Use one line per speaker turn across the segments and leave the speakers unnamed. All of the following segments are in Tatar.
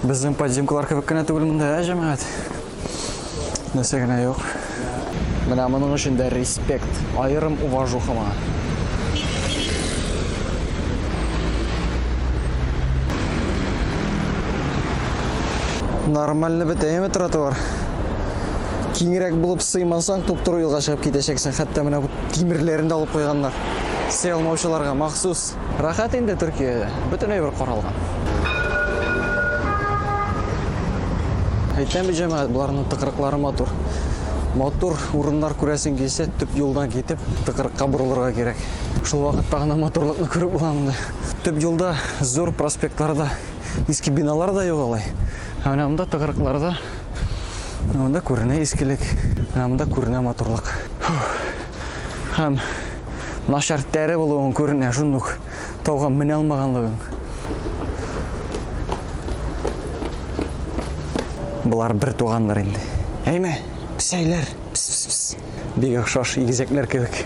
Безнең подземкалар кебек кенә түгел монда, ә җәмәгать? Нәрсә генә юк. Менә моның өчен дә респект, аерым уважуха моңа. Нормально бетәме тротуар? Киңрәк булып сыймасаң, туп-туры юлга чыгып китәчәксең. Хәтта менә бу тимерләрен дә алып куйганнар. Сый алмаучыларга махсус. Рәхәт инде Төркиядә, бөтен әйбер каралган. Әйтәм бит, җәмәгать, боларның тыкрыклары матур. Матур урыннар күрәсең килсә, төп юлдан китеп, тыкрыкка борылырга кирәк. Шул вакытта гына матурлыкны күреп була монда. Төп юлда, зур проспектларда иске биналар да юк алай. Ә менә монда тыкрыкларда монда күренә искелек, менә монда күренә матурлык. Һәм начар тәре булуың күренә, шундук тауга менә алмаганлыгың. Болар бер туганнар инде. Әйме, псәйләр. Пс -пс -пс. Бик охшаш игезәкләр кебек.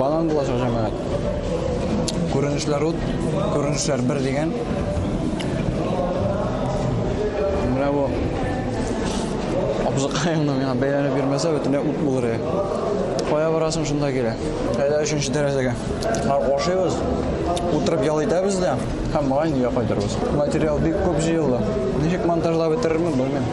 Банан булачак җәмәгать. Күренешләр ут, күренешләр бер дигән. Менә бу абзыкаеңны миңа бәйләнеп бирмәсә, бөтенләй ут булыр иде. Кая барасың шунда килә. Әйдә өченче тәрәзәгә. Ашыйбыз, утырып ял итәбез дә. Һәм моңа инде кайтырбыз. Материал бик күп җыелды. Ничек монтажлап бетерермен, белмим.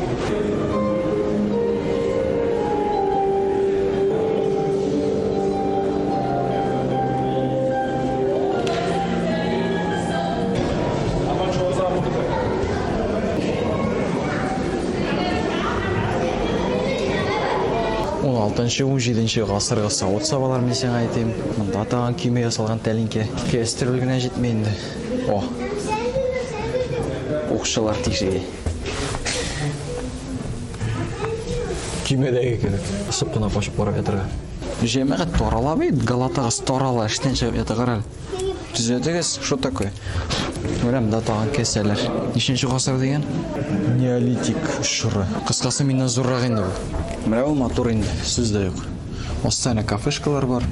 Алтынчы-унҗиденче гасыргы савыт-сабалар мин сиңа әйтим. Монда тагын көймә ясалган тәлинкә. Кестерүл генә җитми инде. О. Укчылар тишеге. Көймәдәге кебек. Ысып кына качып карап ятырга. Җәмәгать тарала бит, галатагыз тарала, эштән чыгып ятыгар әле. Төзәтегез, что такое? Күрәм да тагын кесәләр. Ниченче гасыр дигән? Неолитик чоры. Кыскасы миннән зуррак инде бу. Менә ул матур инде, сүз дә юк. Өстенә кафешкалар бар.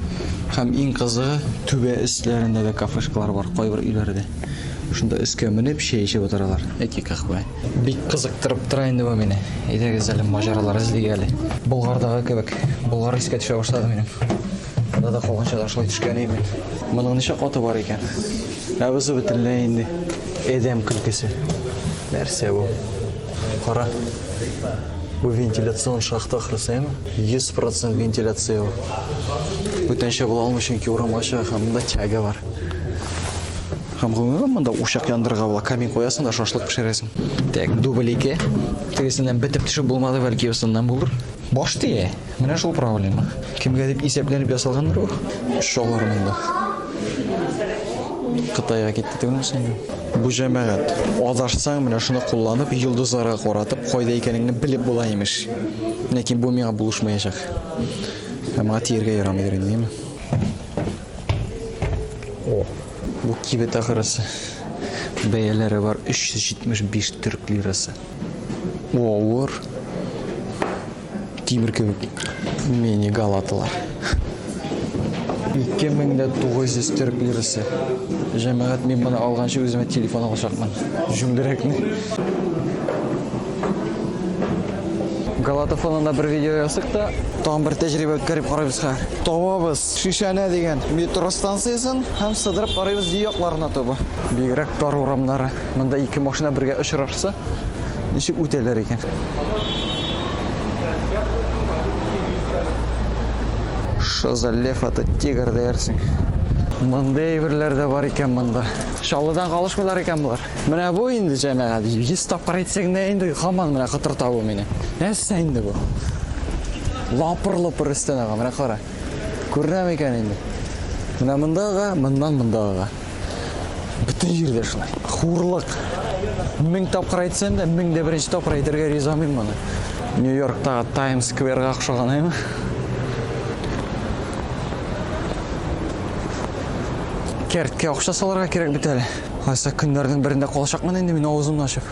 Һәм иң кызыгы, түбә өсләрендә дә кафешкалар бар, кайбер өйләрдә. Шунда өскә менеп, чәй эчеп утыралар. Яки каһвә. Бик кызыктырып тора инде бу мине. Әйдәгез әле маҗаралар эзлик әле. Болгардагы кебек. Болгар искә төшә башлады минем. Анда да калганча да шулай төшкән идем мин. Моның ничә каты бар икән? Ә бу бөтенләй инде адәм көлкесе. Нәрсә бу? Кара. Бу вентиляцион шахта ахрысы, әме? 100% вентиляция ул. Бүтәнчә була алмый, чөнки урам ачык, һәм монда тяга бар. Һәм гомумән монда учак яндырырга була, камин куясың да шашлык пешерәсең. Так, дубль ике. Тегесеннән бетеп төшеп булмады, бәлки усыннан булыр. Баш тия. Менә шул проблема. Кемгә дип исәпләнеп ясалгандыр бу? Шулар монда. Кытайга китте түгелмесен инде. Бу җәмәгать. Адашсаң, менә шуны кулланып, йолдызларга каратып, кайда икәнеңне белеп була, имеш. Ләкин бу миңа булышмаячак. Ә моңа тиергә ярамыйдыр инде, әйеме? О, бу кибет ахырысы. Бәяләре бар 375 төрк лирасы. О, авыр. Тимер кебек мени галатылар. 2900 төрк лирасы. Җәмәгать мин моны алганчы үземә телефон алачакмын. Җүмдерәкне. Галата фонында бер видео ясык та, тагын бер тәҗрибә үткәреп карыйбыз хәзер. Тавабыз Шишәнә дигән метро станциясен һәм сыдырып карыйбыз ди якларына таба. Бигрәк тар урамнары. Монда ике машина бергә очрашса, ничек үтәләр икән? Шазалев ата тигр дәрсең. Мондый әйберләр дә бар икән монда. Чаллыдан калышмыйлар икән болар. Менә бу инде җәмәгать. 100 тапкыр әйтсәң дә инде хаман менә кытырта бу мине. Нәрсә инде бу? Лапыр-лопыр өстән ага, менә кара. Күренәме икән инде? Менә мондага, моннан мондага. Бөтен җирдә шулай. Хурлык. Мең тапкыр әйтсәм дә, мең дә беренче тапкыр әйтергә ризамыйм моны. Нью-Йорктагы Таймс скверга охшаган, әйме? Кәрткә акча салырга кирәк бит әле. Кайсы көннәрнең берендә калачакмын инде мин авызымны ачып.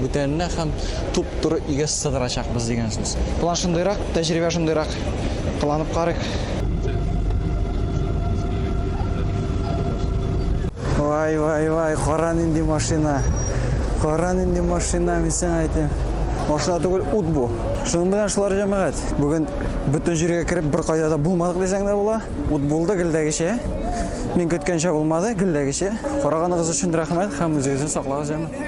Бүтәненә һәм туп-туры өйгә сыдырачакбыз дигән сүз. План шундыйрак, тәҗрибә шундыйрак. Кыланып карыйк. Вай, вай, вай, кара нинди машина. Кара нинди машина, мин сиңа әйтәм. Машина түгел, ут бу. Шуның белән шулар җәмәгать. Бүген бөтен җиргә кереп бер кайда да булмадык дисәң дә була. Ут булды гелдәгечә. Мин көткәнчә булмады, гелдәгечә. Караганыгыз өчен рәхмәт һәм үзегезне саклагыз, җәмәгать.